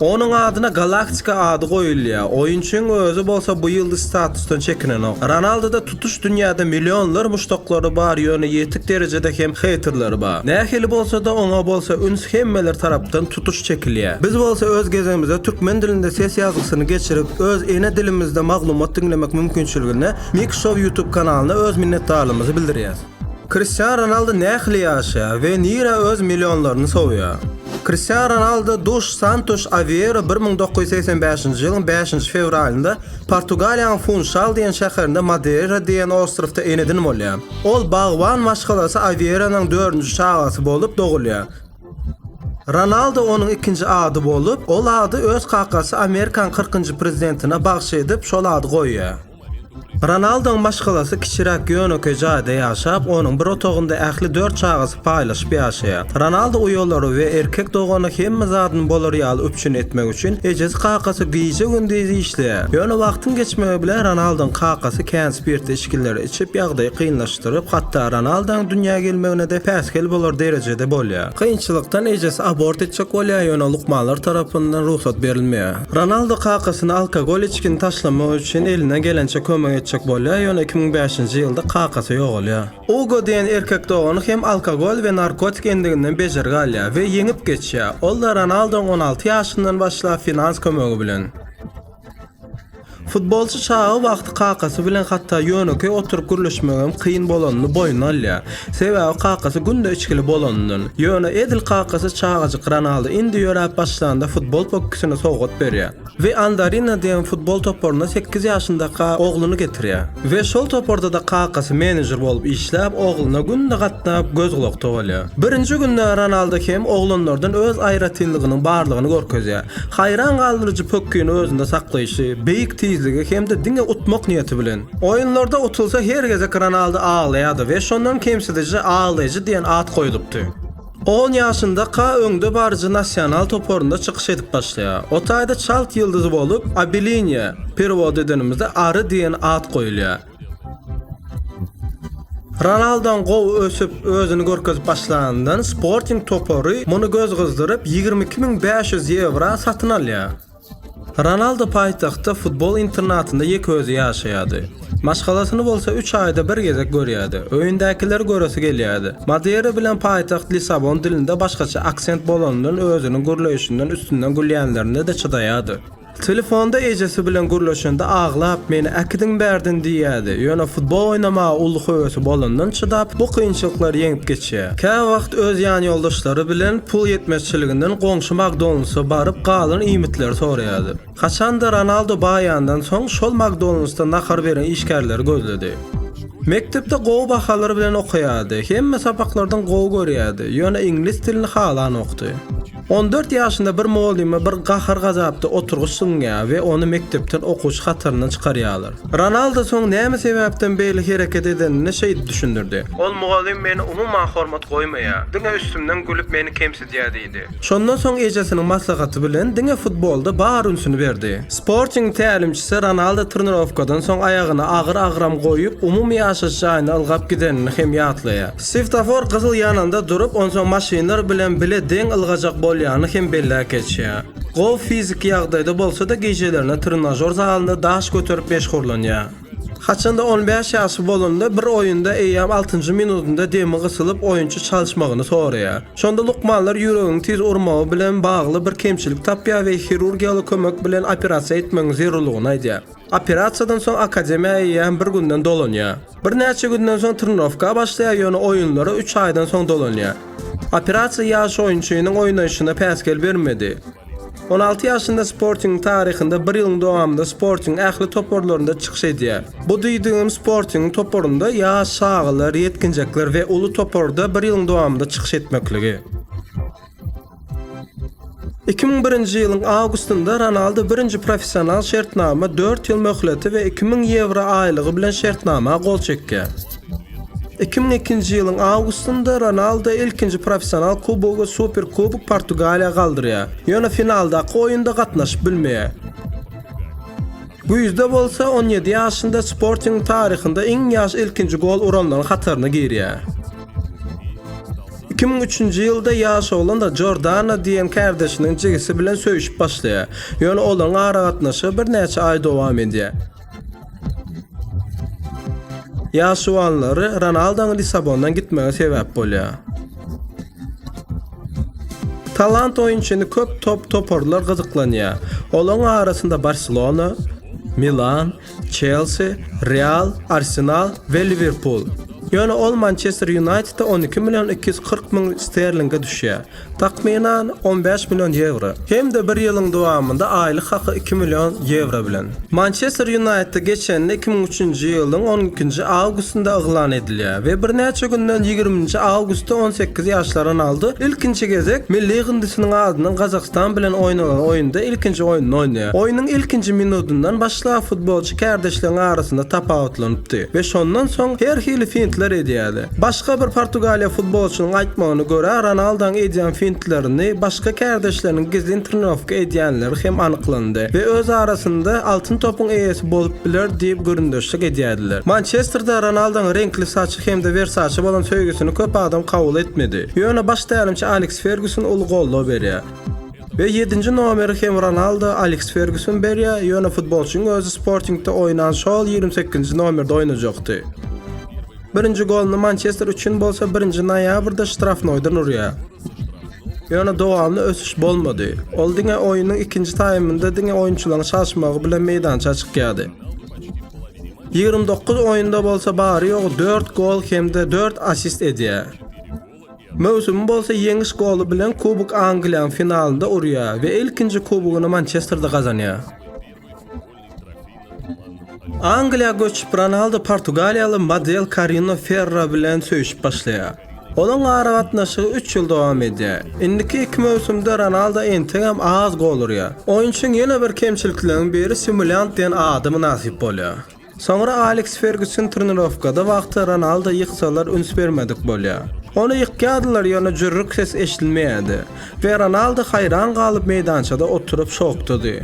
Onuň adyna Galaktika ady goýulýar. Oýunçyň özi bolsa bu ýyldyz statusdan çekinenok. Ronaldoda tutuş dünýäde millionlar muşdaklary bar, ýöne ýetik derejede hem heýterleri bar. Nähili bolsa-da, oňa bolsa üns hemmeler tarapdan tutuş çekilýär. Biz bolsa öz gezegimizde türkmen dilinde ses ýazgysyny geçirip, öz ene dilimizde maglumat diňlemek mümkinçiligine Mixshow ýutub kanalyna öz minnetdarlygymyzy bildirýäs. Kristian Ronaldo nähili ýaşaýar we nirä öz millionlaryny sowýar? Kristian Ronaldo Duş Santuş Awiero bir müň dokuz ýüz segsen bäşinji ýylyň bäşinji fewralynda Portugaliýanyň Funşal diýen şäherinde Madeira diýen ostrowda ene-din bolýar. Ol bagban maşgalasy Awieronyň dördünji çagasy bolup dogulýar. Ronaldo onuň ikinji ady bolup, ol ady öz kakasy Amerikanyň kyrkynjy prezidentine bagş edip, şol ady goýýar. Ronalduň maşgalasy kiçiräk ýönekeý jaýda ýaşap, onuň bir otagynda ähli dört çagasy paýlaşyp ýaşaýar. Ronaldu uýalary we erkek dogany hemme zadyny bolar ýaly üpjün etmek üçin ejesi-kakasy gije-gündiz işleýär. Ýöne wagtyň geçmegi bilen Ronalduň kakasy kän spirtli içgileri içip, ýagdaýy kynlaşdyryp, hatda Ronaldaň dünýä gelmegine-de päsgel bolar derejede bolýar. Kynçylykdan ejesi abort etjek bolýar, ýöne lukmanlar tarapyndan rugsat berilmeýär. Ronaldo kakasyna alkogol içgini taşlamak üçin elinden gelençe kömek etjek bolýar, ýöne iki müň bäşinji ýylda kakasy ýogalýar. Ugo diýen erkek dogany hem alkogol we narkotik endiginden bejergi alýar we ýeňip geçýär, ol-da Ronaldoň on alty ýaşyndan başlap finans kömegi bilen. Futbolçy çaga wagty kakasy bilen hatda ýönekeý oturyp gürleşmegem kyn bolanyny boýnuna alýar. Sebäbi kakasy günde içgili bolanyndan. Ýöne edil kakasy çagajyk Ronaldo indi ýöräp başlanda futbol pökgisini sowgat berýär. We Andarina diýen futbol toparyna sekiz ýaşyndaka ogluny getirýär. We şol topardada kakasy menejer bolup işläp ogluna günde gatnap göz gulak togalýar. Birinji günde Ronaldo hem oglanlardan öz aýratynlygynyň barlygyny görkezýär. Haýran galdyryjy pökgini özünde saklaýşy, beýik tizligi hem-de diňe utmak niýeti bilen. Oýunlarda utulsa her gezek Ronaldo aglaýardy we şondan kemsidiji aglaýjy diýen at goýlupdy. On ýaşynda Ka öňdebaryjy Nasional toparynda çykyş edip başlaýar. O taýda çalt ýyldyz bolup, Abilinýa, perewod edenimizde Ary diýen at goýulýar. Ronaldon gowy ösüp, özüni görkezip başlandan, Sporting topary muny göz gyzdyryp, ýigrimi iki müň bäş ýüz ýewra satyn alýar. Ronaldo paýtagtda futbol internatynda ýeke özi ýaşaýardy. Maşgalasyny bolsa üç aýda bir gezek görýärdi. Öýündäkileri göresi gelýärdi. Madeira bilen paýtagt Lissabon dilinde başgaça aksent bolanyndan özüniň gürleýşinden üstünden gülýänlerine-de çydaýardy. Telefonda ejesi bilen gürleşende aglap, meni äkidiň bärden diýýärdi. Ýöne futbol oýnamaga uly höwesi bolandan çydap, bu kynçylyklary ýeňip geçýär. Käwagt öz ýanýoldaşlary bilen pul ýetmezçiliginden goňşy Makdonalds-a baryp, galan iýmitleri soraýardy. Haçan-da Ronaldo baýandan soň, şol Makdonalds-da nahar beren işgärleri gözledi. Mekdepde gowy bahalar bilen okaýardy. Hemme sapaklardan gowy görýärdi. Ýöne iňlis dilini halanokdy. On dört ýaşynda bir mugallyma bir gahar-gazapda oturgyç zyňýar we ony mekdepden okuwçy hataryndan çykarýarlar. Ronaldo soň näme sebäpden beýle hereket edenini şeýdip düşündirdi. Ol mugallym meni umuman hormat goýmaýar, diňe üstümden gülüp meni kemsidýär diýdi. Şondan soň ejesiniň maslahaty bilen diňe futbolda bar ünsüni berdi. Sporting tälimçisi Ronaldo trenirowkadan soň aýagyna agyr agram goýup, umumy ýaşaýyş jaýyna ylgap gidenini hem ýatlaýar. Swiftofor gyzyl ýananda durup, onsoň maşynlar bilen bile deň ylgajak bolýanyny hem belläp geçýär. Gof fiziki ýagdaýda bolsa-da gijelerine trenažor zalynda daş göterip meşgurlanýar. Haçanda on bäş ýaşy bolanda bir oýunda eýýäm altynjy minudynda demi gysylyp oýunçy çalyşmagyny soraýar. Şonda lukmanlar ýüregiň tiz urmagy bilen bagly bir kemçilik tapýar we hirurgiýaly kömek bilen operasiýa etmegiň zerurlygyny aýdýar. Operasiýadan soň akademiýa eýýäm bir günden dolanýar. Birnäçe günden soň trenirowka başlaýar, ýöne oýunlara üç aýdan soň dolanýar. Operasiýa ýaş oýunçynyň oýnaýşyna päsgel bermedi. On alty ýaşynda Sportingiň taryhynda bir ýylyň dowamynda Sportingiň ähli toparlarynda çykyş edýär. Bu diýdigim Sportingiň toparynda ýaş, çagalar, ýetginjekler we uly toparda bir ýylyň dowamynda çykyş etmekligi. Iki müň birinji ýylyň awgustynda Ronaldu birinji professional şertnama dört ýyl möhleti we iki müň ýewro aýlygy bilen şertnama gol çekýär. Iki müň ikinji ýylyň awgustynda Ronaldu ilkinji professional kubogy we Superkubok Portugaliýa galdyrýar, ýöne finaldaky oýunda gatnaşyp bilmeýär. Güýzde bolsa on ýedi ýaşynda Sportingiň taryhynda iň ýaş ilkinji gol uranlaryň hataryna girýär. Iki müň üçünji ýylda ýaş oglan Jordana diýen kärdeşiniň jigisi bilen söýüşip başlaýar, ýöne olaryň aragatnaşygy birnäçe aý dowam edýär. Ýaşuwanlary Ronaldoň Lissabondan gitmegi sebäp bolýar. Talant oýunçyny köp top toparlar gyzyklanýar. Olaryň arasynda Barselona, Milan, Çelsi, Real, Arsenal we Liwerpul. Ýöne ol Mançester Ýunaýtede on iki million iki ýüz kyrk müň sterlinge düşýär, takmynan, on bäş million ýewro. Hem-de bir ýylyň dowamynda aýlyk haky iki million ýewro bilen. Mançester Ýunaýtda geçende iki müň üçünji ýylyň on ikinji awgustynda yglan edilýär we birnäçe günden ýigriminji awgustda on sekiz ýaşly Ronaldu ilkinji gezek milli ýygyndysynyň adynyň Gazagystan bilen oýnanan oýunda ilkinji oýnuny oýnaýar. Oýnuň ilkinji minudyndan başlap futbolçy kärdeşleriň arasynda tapawutlanypdy we şondan soň her hili fintler edýärdi. Başga bir portugaliýa futbolçynyň aýtmagyna görä, Ronaldoň edýän fintlerini başga kärdeşleriniň gizlin trenirowka edýänleri hem anyklandy we öz arasynda Altyn topyň eýesi bolup biler diýip gürrüňdeşlik edýärdiler. Mançesterde Ronaldoň reňkli saçy hem-de Versaçe bolan söýgüsini köp adam kabul etmedi. Ýöne baş tälimçi Aleks Ferguson uly goldaw berýär. We ýedinji nomeri hem Ronaldo, Aleks Ferguson berýär, ýöne futbolçyň özi Sportingde oýnan şol ýigrimi sekizinji nomerde oýnajakdy. Birinji goluny Mançester üçin bolsa birinji noýabrda ştrafnoýdan urýar. Ýöne dowamly ösüş bolmady. Ol diňe oýnuň ikinji taýmynda diňe oýunçylaryň çalyşmagy bilen meýdança çykýardy. Ýigrimi dokuz oýunda bolsa bary-ýogy dört gol hem-de dört assist edýär. Möwsümi bolsa ýeňiş goly bilen Kubok Angliýaň finalynda urýar we ilkinji kubogyny Mançesterde gazanýar. Angliýa göçüp, Ronaldo portugaliýaly model Karina Ferra bilen söýüşip başlaýar. Olaryň aragatnaşygy üç ýyl dowam edýär. Indiki iki möwsümde Ronaldo entegem az gol urýar. Oýunçyň ýene bir kemçilikleriniň biri simulýant diýen ada mynasyp bolýar. Soňra Aleks Ferguson trenirowkada wagty Ronalda ýyksalar üns bermedik bolýar. Ony ýykýardylar ýöne jürrük ses eşidilmeýärdi we Ronalda haýran galyp meýdançada oturyp şokdady.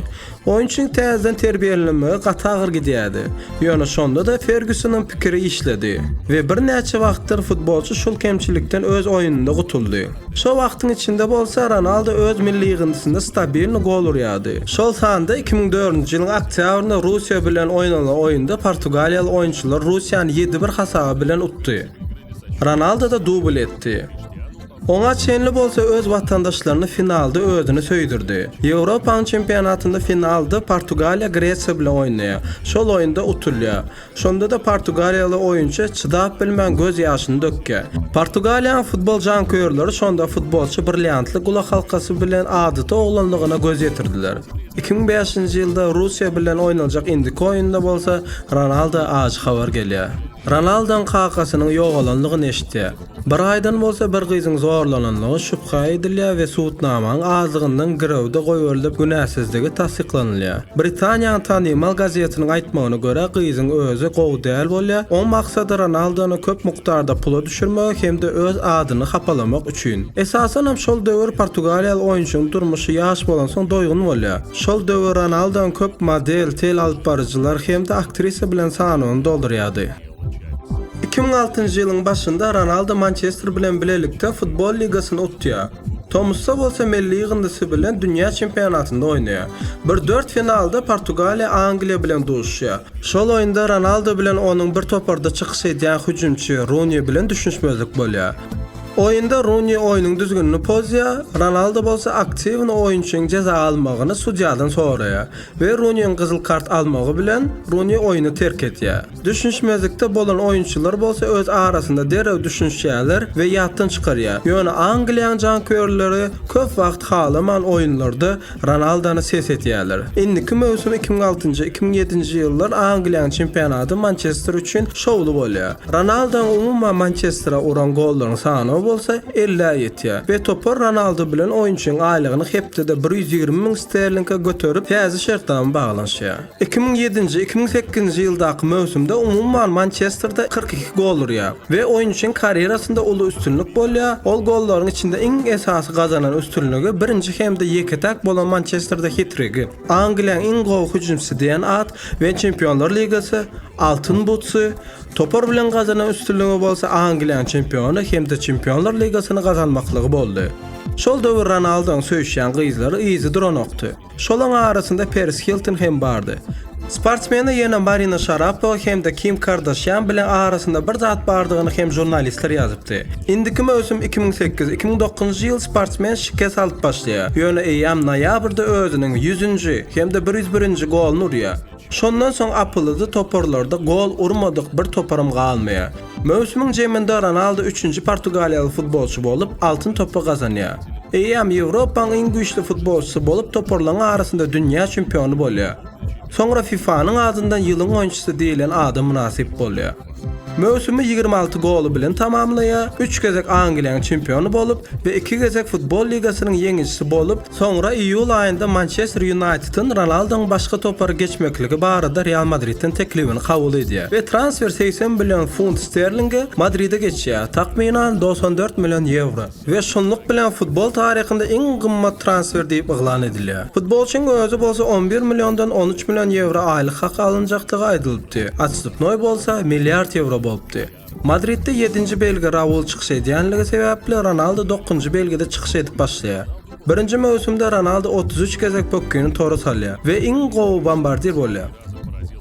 Oýunçyň täzeden terbiýelenmegi gaty agyr gidýärdi, ýöne şonda-da Fergusonyň pikiri işledi we birnäçe wagtdyr futbolçy şul kemçilikden öz oýnunda gutuldy. Şol wagtyň içinde bolsa Ronaldo öz milli ýygyndysynda stabilny gol urýardy. Şol sanda iki müň dördünji ýylyň oktýabrynda Russiýa bilen oýnalan oýunda portugaliýaly oýunçylar Russiýany ýedi bir hasaby bilen utdy. Ronaldo-da dubl etdi. Oňa çenli bolsa öz watandaşlaryny finalda özüni söýdürdi. Ýewropanyň çempionatynda finalda Portugaliýa Gresiýa bilen oýnaýar. Şol oýunda utulýar. Şonda-da portugaliýaly oýunçy çydap bilmän göz ýaşyny dökýär. Portugaliýanyň futbol janköýerleri şonda futbolçy brilliantly gulakhalkasy bilen adaty oglanlygyna göz ýetirdiler. Iki müň bäşinji ýylda Russiýa bilen oýnaljak indiki oýunda bolsa Ronaldo ajy habar gelýär. Ronaldoň kakasynyň ýogalanlygyny eşitýär. Bir aýdan bolsa bir gyzyň zorlanandygy şübhä edilýär we subutnamaň azlygyndan girewde goýberilip, günäsizligi tassyklanylýar. Britaniýanyň tanymal gazetiniň aýtmagyna görä, gyzyň özi gowy däl bolýar, oň maksady Ronaldony köp mukdarda pula düşürmegi hem-de öz adyny hapalamak üçin. Esasanam şol döwür portugaliýaly oýunçynyň durmuşy ýaş bolansoň doýgun bolýar. Şol döwür Ronaldony köp model, tele alyp baryjylar hem-de aktrisa bilen sanawyny doldurýardy. Iki müň altynjy ýylyň başynda Ronaldo Mançester bilen bilelikde Futbol ligasyny utýar. Tomusda bolsa milli ýygyndysy bilen dünýä çempionatynda oýnaýar. Bir dört finalda Portugaliýa Angliýa bilen duşýar. Şol oýunda Ronaldo bilen onuň bir toparda çykyş edýän hüjümçi Runi bilen düşünişmezlik bolýar. Oýunda Runi oýnuň düzgünini pozýar, Ronaldo bolsa aktiwny oýunçyň jeza almagyny sudýadan soraýar we Runiň gyzyl kart almagy bilen Runi oýny terk edýär. Düşünişmezlikde bolan oýunçylar bolsa öz arasynda derrew düşünişýärler we ýatdan çykarýar. Ýöne Angliýanyň janköýerleri köp wagt halaman oýunlarda Ronaldony ses etýärler. Indiki möwsüm iki müň altynjy, iki müň ýedinji ýyllar Angliýanyň çempionaty Mançester üçin şowly bolýar. Ronaldonyň umuman Mançestere uran gollaryň sanawy bolsa ellä ýetýär we topar Ronaldo bilen oýunçyň aýlygyny hepdede bir ýüz ýigrimi müň sterlinge göterip täze şertnama baglanyşýar. Iki müň ýedinji, iki müň sekizinji ýyldaky möwsümde umuman Mançesterde kyrk iki gol urýar we oýunçyň karýerasynda uly üstünlik bolýar, ol gollaryň içinde iň esasy gazanan üstünligi birinji hem-de ýeke-täk bolan Mançesterde hitrigi, Angliýanyň iň gowy hüjümçisi diýen at we Çempionlar ligasy Altyn butsy, topar bilen gazanan üstünligi bolsa Angliýanyň çempiony hem-de Çempionlar ligasyny gazanmaklygy boldy. Şol döwür Ronaldoň söýüşýän gyzlary yzy duranokdy. Şolaryň arasynda Peris Hilton hem bardy. Sportsmene ýene Marina Şarapowa hem-de Kim Kardaşýan bilen arasynda bir zat bardygyny hem žurnalistler ýazypdy. Indiki möwsüm iki müň sekiz, iki müň dokuzynjy ýyl sportsmen şikes alyp başlaýar, ýöne eýýäm noýabrda özüniň ýüzünji hem-de bir ýüz birinji goluny urýar. Şondan soň apylyzy toparlarda gol urmadyk bir toparam galmaýar. Möwsümiň jeminde Ronaldo üçünji portugaliýaly futbolçy bolup, Altyn topy gazanýar. Eýýäm Ýewropanyň iň güýçli futbolçysy bolup toparlaryň arasynda dünýä çempiony bolýar. Soňra FIFA-nyň adyndan ýylyň oýunçysy diýlen ada mynasyp bolýar. Möwsümi ýigrimi alty goly bilen tamamlaýar, üç gezek Angliýanyň çempiony bolup we iki gezek Futbol ligasynyň ýeňijisi bolup, Soňra iýul aýynda Mançester Ýunaýtediň Ronaldoň başga topara geçmekligi barada Real Madridden teklibini kabul edýär we transfer segsen million funt sterlinge Madride geçýär, takmynan, dogsan dört million ýewro, we şunluk bilen futbol taryhynda iň gymmat transfer diýip yglan edilýär. Futbolçyň özi bolsa on bir milliondan on üç million ýewro aýlyk haky alynjakdygy aýdylypdy, otstupnoý bolsa, milliard ýewro bolupdy. Madridde ýedinji belgi Raul çykyş edýänligi sebäpli, Ronaldu dokuzynjy belgide çykyş edip başlaýar. Birinji möwsümde Ronaldu otuz üç gezek pökgini tora salýar we iň gowy bombardir bolýar.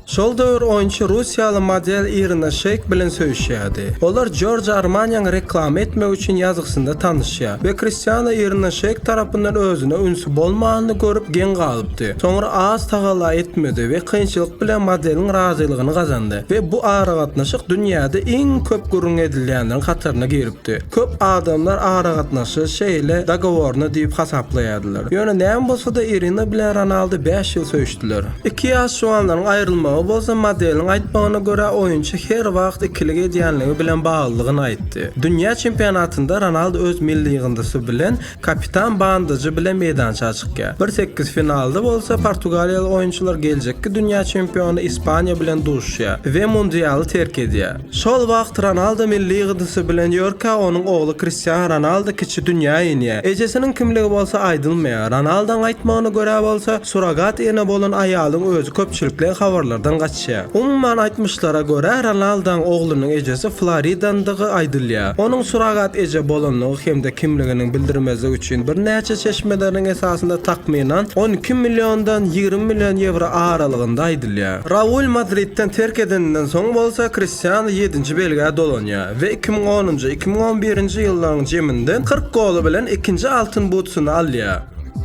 Şol döwür oýunçy russiýaly model Irina Şeýk bilen söýüşýärdi. Olar Giorgio Armaniýany reklama etmek üçin ýazgysynda tanyşýar we Kristiano Irina Şeýk tarapyndan özüne ünsi bolmanyny görüp geň galyp, çykdy. Soňra az tagalla etmedi we kynçylyk bilen modeliň razylygyny gazandy we bu aragatnaşyk dünýäde iň köp gürrüň edilýänleriň hataryna giripdi. Köp adamlar aragatnaşygy şeýle dogoworny diýip hasaplaýardylar. Ýöne näme bolsa-da Irina bilen Ronaldu bäş ýyl söýüşdiler. Iki ýaş juwanlaryň aýrylmagy bolsa modeliň aýtmagyna görä oýunçy her wagt ikilik edýänligi bilen baglydygyny aýtdy. Dünýä çempionatynda Ronaldu öz milli ýygyndysy bilen Kapitan Bandajy bilen meýdança çykýar. Bir sekiz finalda bolsa portugaliýaly oýunçylar geljekki dünýä çempiony Ispaniýa bilen duşýar we mundialy terk edýär. Şol wagt Ronaldo milli ýygydysy bilen ýörkä, onuň ogly Kristiano Ronaldo kiçi dünýä inýär. Ejesiniň kimligi bolsa aýdylmaýar. Ronaldoň aýtmagyna görä bolsa, surrogat ene bolan aýalyň özi köpçülikleýin habarlardan gaçýar. Çä. Umuman aýtmyşlara görä, Ronaldaň oglunyň ejesi Floridandygy aýdylýar. Onuň surrogat eje bolandygy hem-de kimliginiň bildirmezligi üçin birnäçe çeşmeleriň esasynda takmynan on iki milliondan ýigrimi million ýewro aralygynda aýdylýar. Raul Madridden terk edeninden soň bolsa Kristiano ýedinji belgä dolanýar we iki müň onunjy, iki müň on birinji ýyllaryň jeminde kyrk goly bilen ikinji Altyn Butsyny alýar.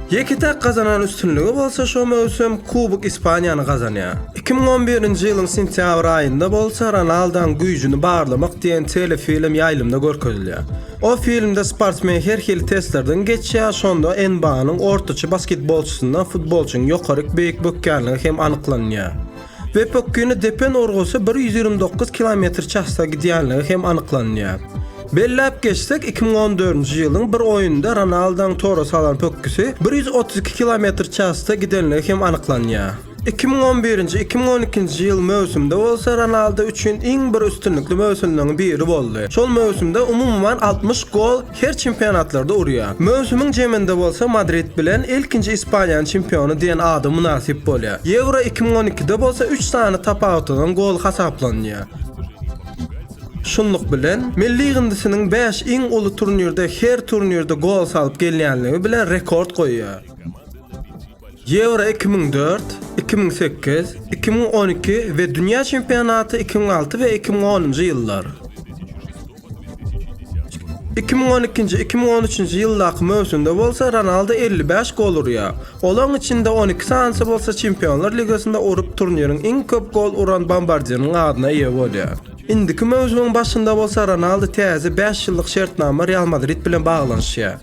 Ýeke-täk gazanan üstünligi bolsa şo möwsüm Kubok Ispaniýany gazanýar. Iki müň on birinji ýylyň sentýabr aýynda bolsa Ronaldaň güýjüni barlamak diýen telefilm ýaýlymda görkezilýär. O filmde sportsmen her hili testlerden geçýär, şonda NBA-nyň ortaça basketbolçysyndan futbolçynyň ýokaryk beýik bökýänligi hem anyklanýar. we pokgeni depen urgusy bir ýüz ýigrimi dokuz kilometr çasda gidýänligi hem anyklanýar. Belläp geçsek, iki müň on dördünji ýylyň bir oýnunda Ronaldoň tora salan pokgesi bir ýüz otuz iki kilometr çasda gidenligi hem anyklanýar. Iki müň on birinji iki müň on ikinji ýyl möwsümde bolsa Ronaldo üçin iň bir üstünlikli möwsümleriň biri boldy. Şol möwsümde umuman altmyş gol. her çempionatlarda urýar. Möwsümiň jeminde bolsa Madrid bilen ilkinji Ispaniýanyň çempiony diýen ada mynasyp bolýar. Ýewro iki müň on ikide bolsa üç sany tapawutlanan gol hasaplanýar. Şunluk bilen, milli ýygyndysynyň bäş iň uly turnirde her turnirde gol salyp gelýänligi bilen rekord goýýar. Ýewro iki müň dört, iki müň sekiz, iki müň on iki we dünýä çempionaty iki müň alty we iki müň onunjy ýyllar. Iki müň on ikinji, iki müň on üçünji ýyldaky möwsümde bolsa Ronaldo elli bäş gol urýar. Olaryň içinde on iki sanysy bolsa Çempionlar ligasynda urup turniriň iň köp gol uran bombardiriniň adyna eýe bolýar. Indiki möwsümiň başynda bolsa Ronaldu täze bäş ýyllyk şertnama Real Madrid bilen baglanyşýar.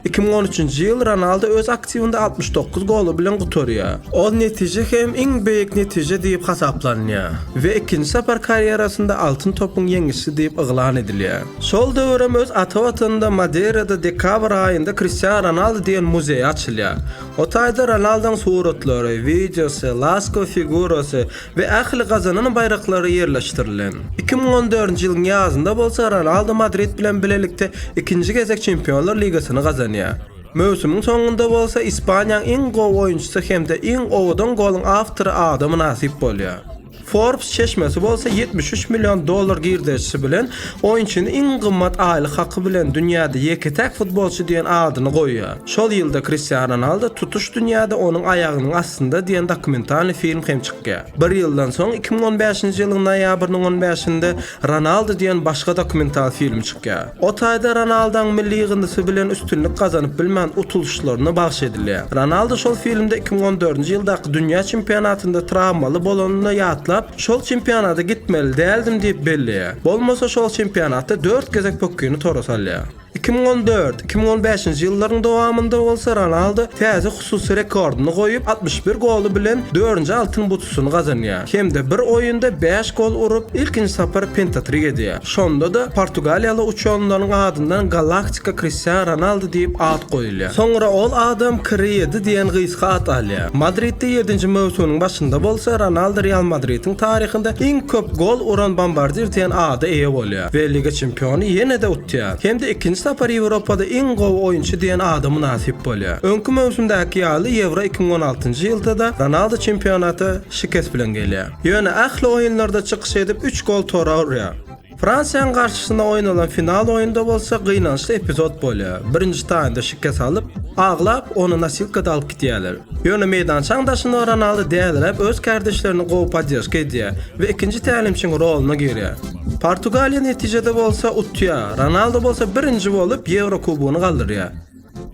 Iki müň on üçünji ýyl Ronaldu öz aktiwinde altmyş dokuz goly bilen gutarýar. Ol netije hem iň beýik netije diýip hasaplanýar we ikinji sapar karýerasynda Altyn topyň ýeňişçisi diýip yglan edilýär. Şol döwür hem öz ata watanynda Madeýrada dekabr aýynda Kristiano Ronaldu diýen muzeý açylýar. O taýda Ronalduň suratlary, wideosy, laskow figurasy, we ähli gazanan baýraklary ýerleşdirilen. Iki müň on dördünji ýylyň ýazynda bolsa Ronaldo Madrid bilen bilelikde ikinji gezek Çempionlar ligasyny gazanýar. Möwsümiň soňunda bolsa Ispaniýaň iň gowy oýunçysy hem-de iň owadan goluň awtory ada mynasyp bolýar. Forbes çeşmesi bolsa ýetmiş üç million dollar girdejisi bilen oýunçyny iň gymmat aýlyk haky bilen dünýäde ýeke-täk futbolçy diýen adyny goýýar. Şol ýylda Kristiano Ronaldo Tutuş dünýäde onuň aýagynyň astynda diýen dokumentalny film hem çykýar. Bir ýyldan soň iki müň on bäşinji ýylyň noýabrynyň on bäşinde Ronaldo diýen başga dokumental film çykýar. O taýda Ronaldaň milli ýygyndysy bilen üstünlik gazanyp bilmän utulyşlaryna bagyş edilýär. Ronaldo şol filmde iki müň on dördünji ýyldaky dünýä çempionatynda trawmaly bolanyny ýatlap, şol çempionada gitmeli däldim diýip belleýär. Bolmasa şol çempionatda dört gezek pökgini tora salýar. Iki müň on dört, iki müň on bäşinji ýyllaryň dowamynda bolsa Ronaldo täze hususy rekordyny goýup, altmyş bir goly bilen dördünji Altyn butusyny gazanýar hem-de bir oýunda bäş gol urup, ilkinji sapar pentatrik edýär. Şonda-da portugaliýaly uçanlaryň adyndan Galaktika Kristian Ronaldo diýip at goýulýar. Soňra ol adam Kri ýedi diýen gysga at alýar. Madridde ýedinji möwsüminiň başynda bolsa Ronaldo Real Madridiň taryhynda iň köp gol uran bombardir diýen ada eýe bolýar we Liga çempiony ýene-de utýar. Ýa, hem-de ikinji sapar Ýewropada iň gowy oýunçy diýen ada mynasyp bolýar. Öňki möwsümdäki ýaly Ýewro iki müň on altynjy ýylda-da Ronaldo çempionata şikes bilen gelýär. Ýöne ähli oýunlarda çykyş edip, üç gol tora urýar. Fransiýanyň garşysyna oýnalan final oýunda bolsa gynançly epizod bolýar, birinji taýmda şikes alyp, aglap, ony nosilkada alyp gidýärler. Ýöne meýdançaň daşynda Ronaldo däliräp öz kärdeşlerine gowy podderžka edýär we ikinji tälimçiň roluna girýär. Portugaliýa netijede bolsa utýar, Ronaldo bolsa birinji bolup Ýewro kubogyny galdyrýar.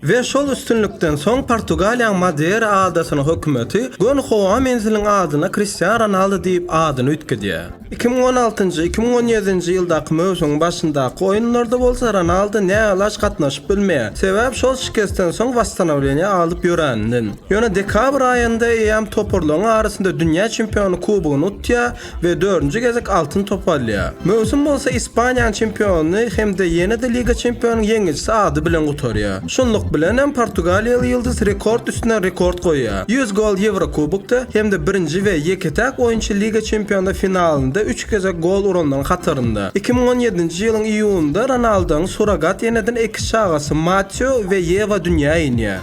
We şol üstünlikden soň Portugaliýanyň Madera adasynyň hökümeti göni howa menziliň adyna Kristiano Ronaldo diýip adyny üýtgedýär. Iki müň on altynjy, iki müň on ýedinji ýyldaky möwsümiň başyndaky oýunlarda bolsa Ronaldo nälaç gatnaşyp bilmeýär, sebäbi şol şikesden soň wasstanowleniýa alyp ýöräninden. Ýöne dekabr aýynda eýýäm toparlaryň arasynda dünýä çempiony kubogyny utýar, we dördünji gezek Altyn topy alýar. Möwsüm bolsa Ispaniýanyň çempiony hem-de ýene-de Liga çempionunyň ýeňijisi ady bilen gutarýar. Şunluk bilen hem portugaliýaly ýyldyz rekord üstüne rekord goýýar, ýüz gol Ýewrokubokda hem-de birinji we ýeke-täk oýunçy Liga çempionlar finalynda üç gezek gol uranlaryň hatarynda. Iki müň on ýedinji ýylyň iýunynda Ronaldonyň surrogat enedenn eki çagasy Mateo we Ýewa dünýä inýär.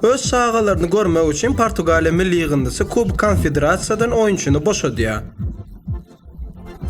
Öz çagalaryny görmek üçin Portugaliýa milli ýygyndysy Kubok Konfederasiýadan oýunçyny boşadýar.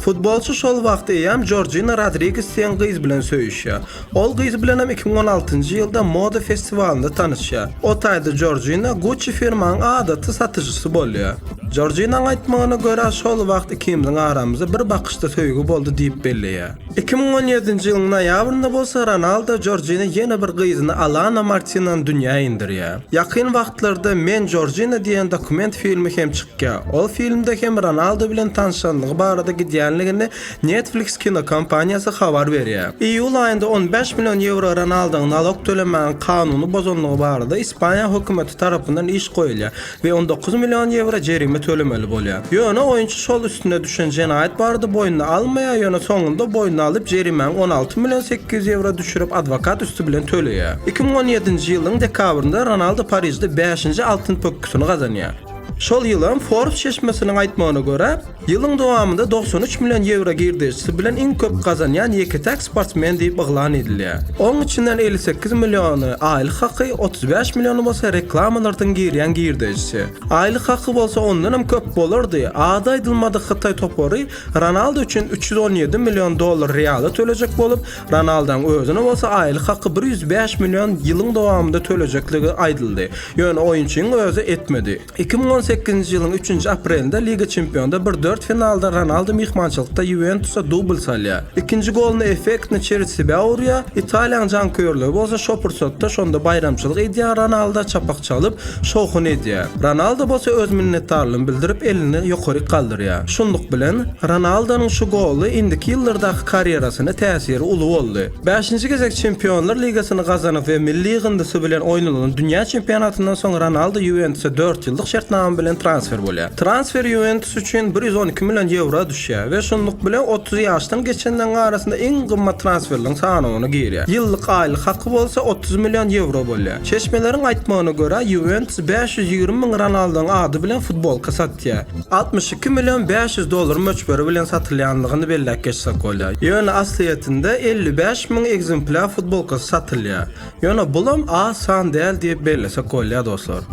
Futbolçy şol wagt eýýäm Jorjina Rodriges diýen gyz bilen söýüşýär. Ol gyz bilenem iki müň on altynjy ýylda moda festiwalynda tanyşýar. O taýda Jorjina Gucci firmanyň adaty satyjysy bolýar. Jorjinanyň aýtmagyna görä, şol wagt ikimiziň aramyzda bir bakyşda söýgi boldy diýip belleýär. Iki müň on ýedinji ýylyň noýabrynda bolsa Ronaldo Jorjina ýene bir gyzyny Alana Martinany dünýä indirýär. Ýakyn wagtlarda Men Jorjina diýen dokument filmi hem çykýar. Ol filmde hem Ronaldo bilen tanşanlygy barada gidýänligini Netflix kinokompaniýasy habar berýär. Iýul aýynda on bäş million ýewro Ronaldoň nalog tölemäň kanuny bozanlygy barada Ispaniýa hökümeti tarapyndan iş goýulýar. we on dokuz million ýewro jerime tölemeli bolýar. Ýöne oýunçy şol üstüne düşen jenaýat barada boýnuna almaýar, ýöne soňunda boýnuna alyp, jerimäni on alty million sekiz ýüz ýewro düşürip, adwokat üsti bilen töleýär. Iki müň on ýedinji ýylyň dekabrynda Ronaldo Parižde bäşinji altyn pökgüsini gazanýar. Şol ýylam Forbes çeşmesiniň aýtmagyna görä, Ýylyň dowamynda togsan üç million ýewro girdejisi bilen iň köp gazanýan ýeke-täk sportsmen diýip yglan edilýär. Onuň içinden elli sekiz milliony, aýlyk haky, otuz bäş milliony bolsa reklamalardan girýän girdejisi. Aýlyk haky bolsa ondanam köp bolardy, ady aýdylmadyk hytaý topary Ronaldo üçin üç ýüz on ýedi million dollar reala tölejek bolup, Ronaldaň özüne bolsa aýlyk haky bir ýüz bäş million ýylyň dowamynda tölejekligi aýdyldy, ýöne oýunçyň özi etmedi. Iki müň on sekizinji ýylyň üçünji aprelinde Liga Çempionda bir dört finalda Ronaldu myhmançylykda Ýuwentusa dubl salýar. Ikinji goluny effektny çerzsibä urýar, Italiýanyň janköýerleri bolsa şo pursatda şonda baýramçylyk edýän Ronalda çapak çalyp, şowhun edýär. Ronaldo bolsa öz minnetdarlygyny bildirip elini ýokaryk galdyrýar. Şunluk bilen, Ronaldonyň şu goly indiki ýyllardaky karýerasyna täsiri uly boldy. Bäşinji gezek Çempionlar ligasyny gazanyp we milli ýygyndysy bilen oýnalan dünýä çempionatyndan soň Ronaldo Ýuwentusa dört ýyllyk şertnama bilen transfer bolýar. Transfer Ýuwentus üçin bir ýüz on iki million ýewro düşýär we şunluk bilen otuz ýaşdan geçenleriň arasynda iň gymmat transferleriň sanawyna girýär. Ýyllyk aýlyk haky bolsa otuz million ýewro bolýar. Çeşmeleriň aýtmagyna görä, Ýuwentus bäş ýüz ýigrimi müň Ronaldoň ady bilen futbolka satýar. altmyş iki million bäş ýüz dollar möçberi bilen satylýandygyny belläp geçsek bolýar. Ýöne aslyýetinde elli bäş müň ekzemplýar futbolkasy satylýar. Ýöne bulam az san däl diýip bellesek bolýar dostlar.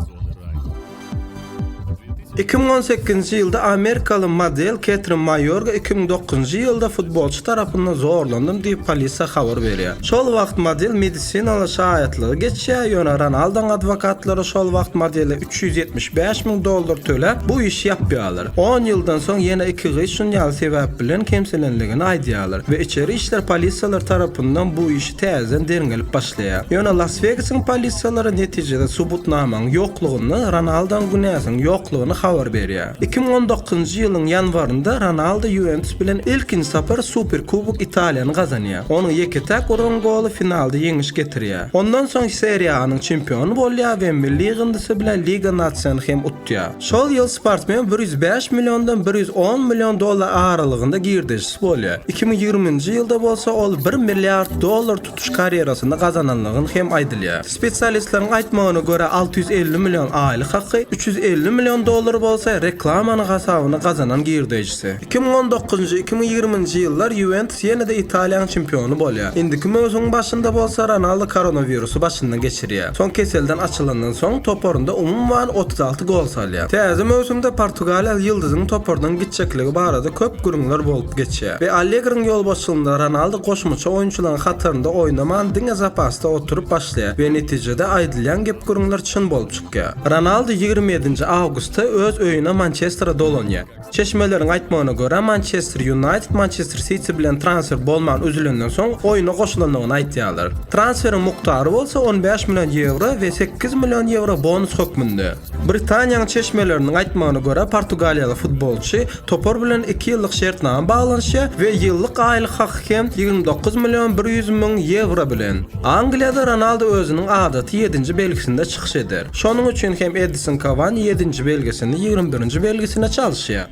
Iki müň on sekizinji ýylda amerikaly model Ketrin Maýorga iki müň dokuzynjy ýylda futbolçy tarapyndan zorlandym diýip polisiýa habar berýär. Şol wagt model medisinaly şaýatlygy geçýär, ýöne Ronaldoň adwokatlary şol wagt modele Üç ýüz ýetmiş bäş müň dollar töläp, bu işi ýapýarlar. On ýyldan soň ýene iki gyz şun ýaly sebäp bilen kemsilenligini aýdýarlar we içeri işler polisiýalary tarapyndan bu işi täzeden derňelip başlaýar. Ýöne Las-Wegasyň polisiýalary netijede subutnamaň ýoklugyny, Ronaldoň günäsiniň ýoklugyny habar berýär. Iki müň on dokuzynjy ýylyň ýanwarynda Ronaldo Ýuwentus bilen ilkinji sapar Superkubok Italiýany gazanýar. Onuň ýeke-täk uran goly finalda ýeňiş getirýär. Ondan soň Serie A-nyň çempiony bolýar we milli ýygyndysy bilen Liga Nasion hem utýar. Şol ýyl sportsmen bir ýüz bäş milliondan bir ýüz on million dollar aralygynda girdejisi bolýar. Iki müň ýigriminji ýylda bolsa ol bir milliard dollar tutuş karýerasynda gazanandygy hem aýdylýar. Spesialistleriň aýtmagyna görä, alty ýüz elli million aýlyk haky, üç ýüz elli million dollar bolsa reklamanyň hasabyna gazanan girdejisi. ýetişdi. Iki müň on dokuzynjy, iki müň ýigriminji ýyllar Ýuwentus ýene-de Italiýanyň çempiony bolýar. Indiki möwsümiň başynda bolsa Ronaldo koronawirusy başyndan geçirýär. Soň keselden açylandan soň toparynda umuman otuz alty gol salýar. Täze möwsümde portugaliýaly ýyldyzyň topardan gitjekligi barada köp gürrüňler bolup geçýär we Allegriň ýolbaşçylygynda Ronaldo goşmaça oýunçylaryň hatarynda oýnaman diňe zapasda oturyp başlaýar we netijede aýdylýan gep-gürrüňler çyn bolup çykýar. Ronaldo ýigrimi ýedinji awgustda öz öýüne Mançestere dolanýar. Çeşmeleriň aýtmagyna görä, Mançester Ýunaýted Mançester Siti bilen transfer bolman üzülenden soň oýna goşulandygyny aýdýarlar. Transferiň mukdary bolsa on bäş million ýewro we sekiz million ýewro bonus hökmünde. Britaniýanyň çeşmeleriniň aýtmagyna görä, portugaliýaly futbolçy topar bilen iki ýyllyk şertnama baglanyşýar we ýyllyk aýlyk haky hem ýigrimi dokuz million bir ýüz müň ýewro bilen. Angliýada Ronaldo özüniň adaty ýedinji belgisinde çykyş eder. Şonuň üçin hem Edison Kawani ýedinji belgisini ýigrimi birinji belgisine çalyşýar.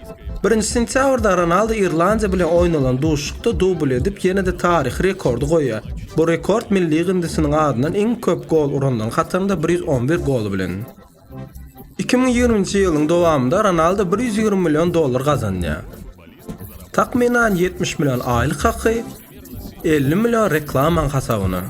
Birinji sentýabrda Ronaldu Irlandiýa bilen oýnalan duşuşykda dubl edip ýene-de taryhy rekordy goýýar. Bu rekord milli gyndysnyň adyndan iň köp gol uranlaryň hatarynda bir ýüz on bir goly bilen. Iki müň ýigriminji ýylyň dowamynda Ronaldu bir ýüz ýigrimi million dollar gazanýar. Takmynan ýetmiş million aýlyk haky, Elli million reklamaň hasabyna.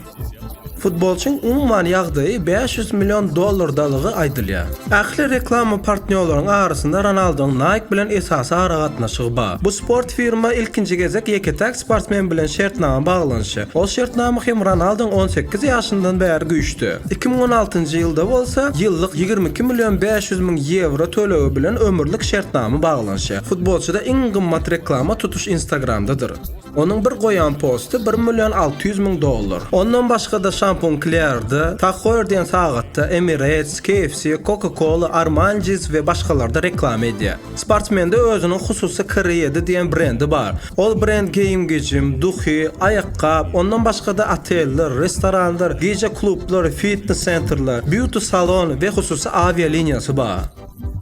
Futbolçyň umuman ýagdaýy bäş ýüz million dollardalygy aýdylýar. Ähli reklama partnýorlaryň arasynda Ronaldoň Nike bilen esasy aragatnaşygy bar. Bu sport firma ilkinji gezek ýeke-täk sportsmen bilen şertnama baglanyşýar. Ol şertnama hem Ronaldoň on sekiz ýaşyndan bäri güýçde. Iki müň on altynjy ýylda bolsa, ýyllyk ýigrimi iki million bäş ýüz müň ýewro tölegi bilen ömürlik şertnama baglanyşýar. Futbolçyda iň gymmat reklama tutuş Instagramdadyr. Onuň bir goýan posty bir million alty ýüz müň dollar. Ondan başga-da Şampun Klearda, Tag Hoer diýen sagatda, Emirates, KFC, Coca-Cola, Armani Jeans we başgalarda reklama edýär. Sportsmende özüniň hususy K-Red diýen brendi bar. Ol brend geýim-gejim, duhy, aýakgap, ondan başga-da oteller, restoranlar, gije klublary, fitnes-sentrler, býuti-salon we hususy awialiniýasy bar.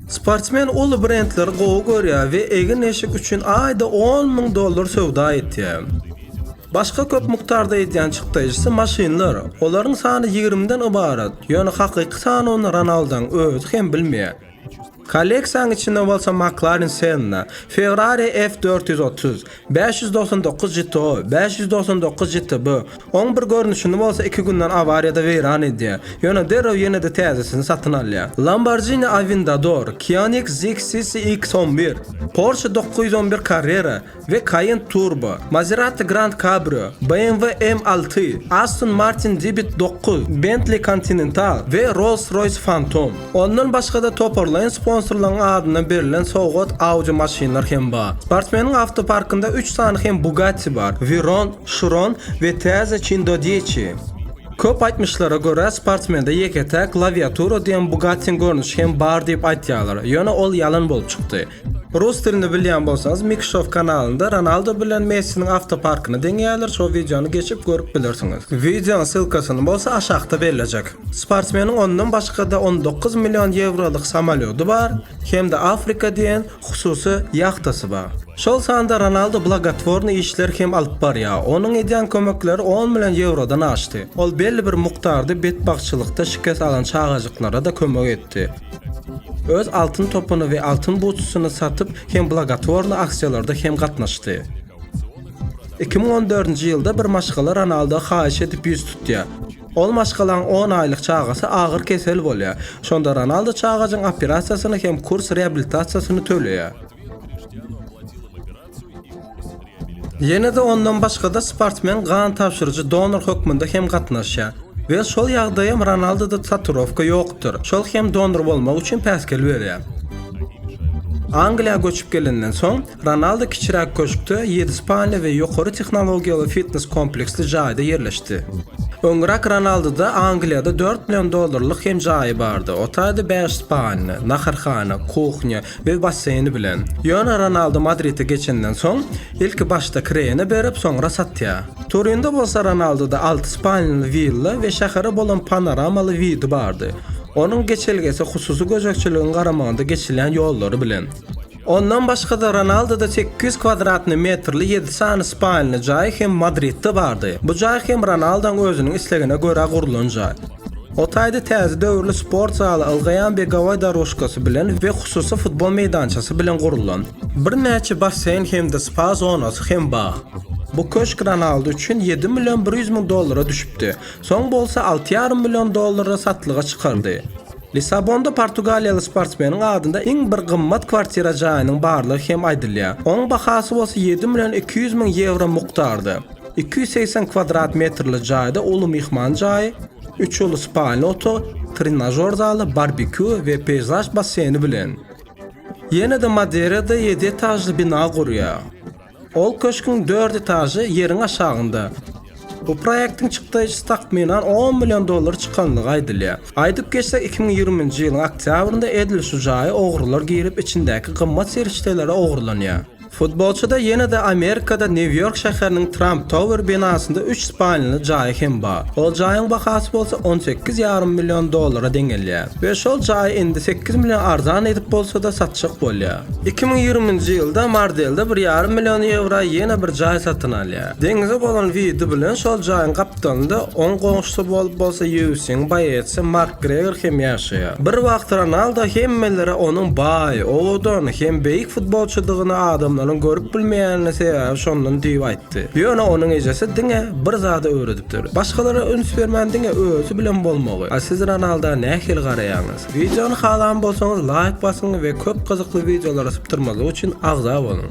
Sportsmen uly brendleri gowy görýär we egin-eşik üçin aýda on müň dollar söwda etýär. Başga köp mukdarda edýän çykdajysy maşynlar. Olaryň sany ýigrimiden ybarat, ýöne hakyky sanyny Ronaldaň özi hem bilmeýär. Kolleksiýanyň içinde bolsa McLaren Senna, Ferrari F dört ýüz otuz, Bäş ýüz togsan dokuz JTO, bäş ýüz togsan dokuz JTB, oň bir görnüşini bolsa iki günden awariýada weýran edýär, ýöne derrew ýene-de täzesini satyn alýar. Lamborghini Aventador, Kionic Zig CCX on bir, Porsche dokuz ýüz on bir Carrera we Cayenne Turbo, Maserati Grand Cabrio, BMW M alty, Aston Martin Dibit dokuz, Bentley Continental we Rolls-Royce Phantom. Ondan başga-da toparlaýyn sponsorlaryň adyna berlen sowgat awjy maşynlar hem bar. Sportsmeniň awtoparkynda üç sany hem Bugatti bar, Veyron, Chiron we täze Cindo Dieci. Köp aýtmyşlara görä, sportsmende ýeke-täk Laviatura diýen Bugattiň görnüşi hem bar diýip aýtýarlar, ýöne ol ýalan bolup çykdy. Rus dilini bilýän bolsaňyz Mikşow kanalynda Ronaldo bilen Messiniň awtoparkyny deňeýärler şo wideony geçip görüp bilersiňiz. Wideonyň ssylkasyny bolsa aşakda bellejek. Sportsmeniň ondan başgada on dokuz million ýewrolyk samolýody bar hem-de Afrika diýen hususy ýahtasy bar. Şol sanda Ronaldo blagotwornyý işler hem alyp barýar. Onuň edýän kömekleri on million ýewrodan aşdy. Ol belli bir mukdarda betbagtçylykda şikes alan çagajyklara-da kömek etdi. Öz altyn topuny we altyn butusyny satyp hem blagotorny aksiýalarda hem gatnaşdy. 2014-nji ýylda bir maşgala Ronaldo haýyş edip ýüz tutýar. Ol maşgalaň on aýlyk çagasy agyr kesel bolýar. Şonda Ronaldo çagajyň operasiýasyny hem kurs reabilitasiýasyny töleýär. Ýene-de ondan başga-da sportsmen gan tabşyryjy donor hökmünde hem gatnaşýar. We şol ýagdaýam Ronaldoda taturowka ýokdur, şol hem donor bolmak üçin päsgel berýär. Angliýa göçüp gelenden soň, Ronaldo kiçiräk köşkde, ýedi spalny we ýokary tehnologiýaly fitnes kompleksli jaýda ýerleşdi. Öňräk Ronaldoda Angliýada dört million dollarlyk hem jaýy bardy, otaýda bäş spalny, naharhana, kuhnýa, Öz basseýni bilen. Ýöne Ronaldu Madride geçenden soň, ilki başda kireýine berip, soňra satýar. Turinde bolsa Ronalduda alty spalnaly willa we şähere bolan panoramaly widi bardy. Onuň geçelgesi hususy gözegçiligiň garamagynda geçilýän ýollary bilen. Ondan başga-da Ronalduda sekiz ýüz kwadratny metrli ýedi sany spalnaly jaýy hem Madridde bardy. Bu jaý hem Ronalduň özüniň islegine görä gurlan jaý. O taýda täze döwürli sport zaly ylgaýan begowoý doružkasy bilen we hususy futbol meýdançasy bilen gurlan. Birnäçe basseýn hem-de spa zonasy hem bar. Bu köşk Ronaldu üçin ýedi million bir ýüz müň dollara düşüpdi, soň bolsa alty ýarym million dollara satlyga çykardy. Lissabonda portugaliýaly sportsmeniň adynda iň bir gymmat kwartira jaýynyň barlygy hem aýdylýar. Onuň bahasy bolsa ýedi million iki ýüz müň ýewro mukdarda. Iki ýüz segsen kwadrat metrli jaýda uly myhman jaýy, Üç uly spaýly otag, trenažýor zaly, barbekýu we peýzaž basseyni bilen. Ýene-de Madeirada ýedi etažly bina gurýar. Ol köşgüň dört etažy ýeriň aşagynda. Bu proýektiň çykdaýjysy takmynan on million dollar çykandygy aýdylýar. Aýdyp geçsek, iki müň ýigriminji ýylyň oktýabrynda edil şu jaýa ogrular girip, içindäki gymmat serişdeleri ogurlanýar. Futbolçyda ýene-de Amerikada Nýu-Ýork şäheriniň Trump Tower binasynda üç spalnyly jaýy hem bar. Ol jaýyň bahasy bolsa on sekiz ýarym million dollara deňelýär we şol jaýy indi sekiz million arzan edip bolsa-da satjak bolýar. Iki müň ýigrimi nji ýylda Mardelde bir ýarym million ýewroa ýene bir jaý satyn alýar. Deňize bolan widi bilen şol jaýyň gap Londonda, oň goňşusy bolup bolsa UFC-niň boýaçysy Makgregor hem ýaşaýar. Bir wagt Ronaldo hemmelere onuň baý, owadan hem beýik futbolçydygyny adamlaryň görüp bilmeýänini sebäbi şondan diýip aýtdy. Ýöne onuň ejesi diňe bir zady öwredipdir. Başgalara üns bermän diňe özi bilen bolmagy. A siz Ronalda nähili garaýaňyz? Wideony halan bolsaňyz laýk basyň we köp gyzykly wideolary sypdyrmazlyk üçin agza boluň.